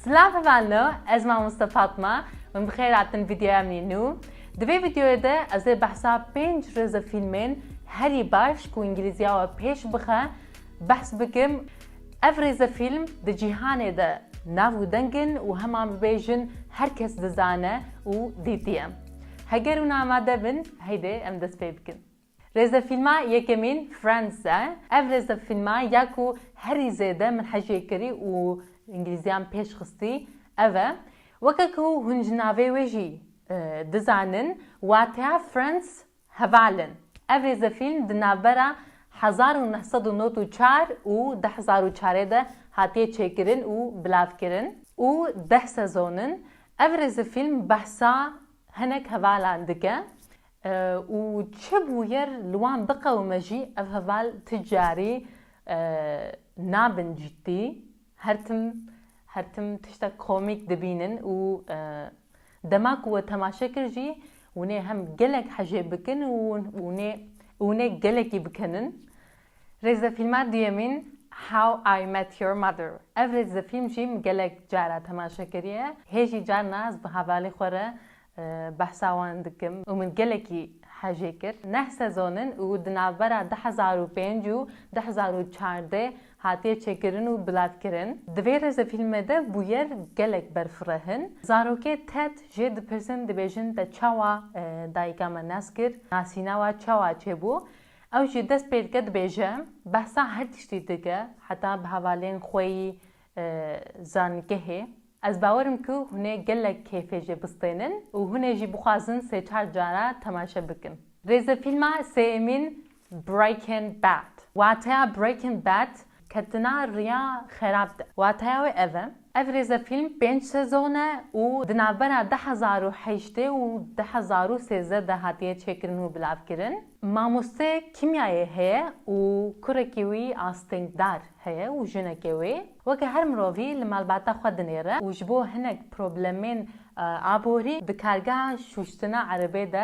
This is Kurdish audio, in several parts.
Silav hevalno, ez mamoste Fatma, min bi xêr hatin vîdeoya min yê nû. Di vê vîdeoyê de ez ê behsa pênc rêze fîlmên herî baş ku îngîlîziya we pêş bixe behs bikim. Ev rêze fîlm di cîhanê de nav û deng in û hema bibêjin her kes dizane û dîtiye. Heger hûn amade bin heydê em dest pê bikin. Rêzefîlma yekemîn Friends e. Ev rêzefîlma ya ku herî zêde min hecê kirî û îngilîziyan pêş xistî ev e. Weke ku hûn ji navê wê jî dizanin wateya Friends heval in. Ev rêzefîlm di navbera hezar û neh sed û nod û çar û du hezar û çar ê de hatiye çêkirin û bilavkirin û deh sezon in. Ev rêzefîlm behsa hinek hevalan dike. Û çi bûyer li wan biqewime jî ev heval ti carî nabin ciddî, her tim her tim tiştek komîk dibînin û dema ku we temaşe kir jî winê hem gelek hejê bikin û winê winê gelekî bikenin. Rêzefîlma duyemîn How I Met Your Mother. Ev rêzefîlm jî min gelek cara temaşe kiriye. Hê jî carna ez bi hevalê xwe re Behsa wan dikim û min gelekî hejê kir. Neh sezon in û di navbera du hezar û pênc û du hezar û çardeh hatiye çêkirin û bilavkirin. Di vê rêzefîlmê de bûyer gelek berfirehn. Zarokê Ted jê dipirsin dibêjin te çawa dayika me nas kir, nasîna we çawa çêbû. Ew jî dest pê dike dibêje, Behsa her tiştî dike heta bi hevalên xwe yî zanîngehê. Ez bawer im ku hûn ê gelek kêfê jê bistênin û hûn ê jî bixwazin sê çar cara temaşe bikin. Rêzefîlma sêyemîn Breaking Bad. Wateya Breaking Bad ketina riya xerab de. Wateya wê ev e, ev rêzefîlm pênc sezon e û di navbera du hezar û heştê û du hezar û sêzdeh de hatiye çêkirin û bilavkirin. Mamoste kîmyayê heye û kurekî wî astengdar heye û jinekê wê weke her mirovî li malbata xwe dinêre û ji bo hinek problemên aborî di kargeha şûştina erebê de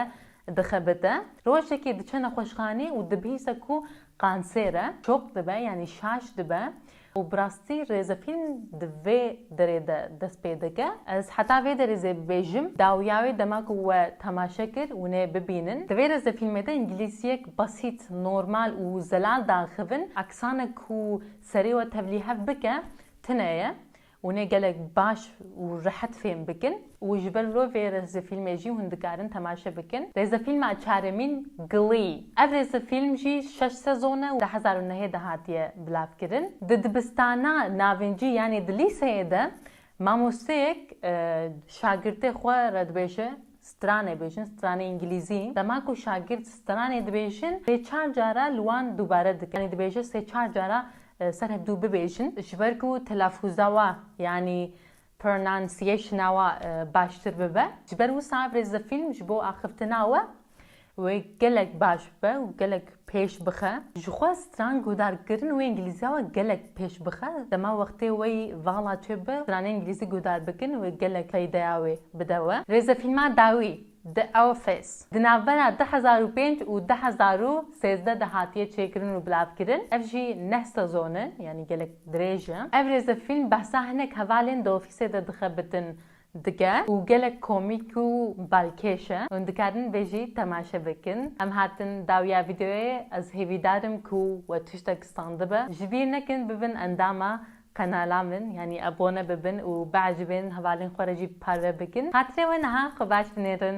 dixebite. Rojekê diçe nexweşxanê û dibihîse ku qansêr e, şok dibe yanî şaş dibe Û bi rastî rêzefîlm di vê derê de dest pê dike. Ez heta vê derê zê bibêjim, dawiya wê dema ku we temaşe kir hûnê bibînin. Di vê rêzefîlmê de îngîlîziyek besît, normal û zelal daxivin, eksanek ku serê we tevlî hev bike tune ye. Hûn ê gelek baş û rehet fêm bikin û ji ber vê rêzefîlmê jî hûn dikarin temaşe bikin. Rêzefîlma çaremîn Glee. Ev rêzefîlm jî şeş sezon e û di hezar û nehê de hatiye bilavkirin. Di dibistana navincî yanî di lîseyê de mamosteyek şagirtê xwe re dibêje, Stranê bêjin, stranê îngilîzî. Dema ku şagird stranê dibêjin sê çar cara li wan dubare dike. Yanî dibêje sê çar cara ser hevdû bibêjin. Ji ber ku telafûza we yanî pronunciation-a we baştir bibe. Ji ber wisa ev rêzefîlm ji bo axiftina we Wê gelek baş bibe û gelek pêş bixe. Jixwe stran guhdar kirin wê îngilîziya we gelek pêş bixe. Dema wextê we yî vala çê bibe stranê îngilîzî guhdar bikin wê gelek feydeya wê bide we. Rêzefîlma dawî The Office di navbera du hezar û pênc û du hezar û sêzdeh de hatiye çêkirin û bilavkirin. Ev jî neh sezon e yanî gelek dirêj e. Ev rêzefîlm behsa hinek hevalên di ofîsê de dixe bitin dike û gelek komîk û balkêş e. Hûn dikarin vê jî temaşe bikin. Em hatin dawiya vîdeoyê ez hêvîdar im ku we tiştek standibe. Ji bîr nekin bibin endama qenala min yanî abone bibin û biajibên hevalên xwe re jî parve bikin. Xatirê we niha xwe baş binêrin.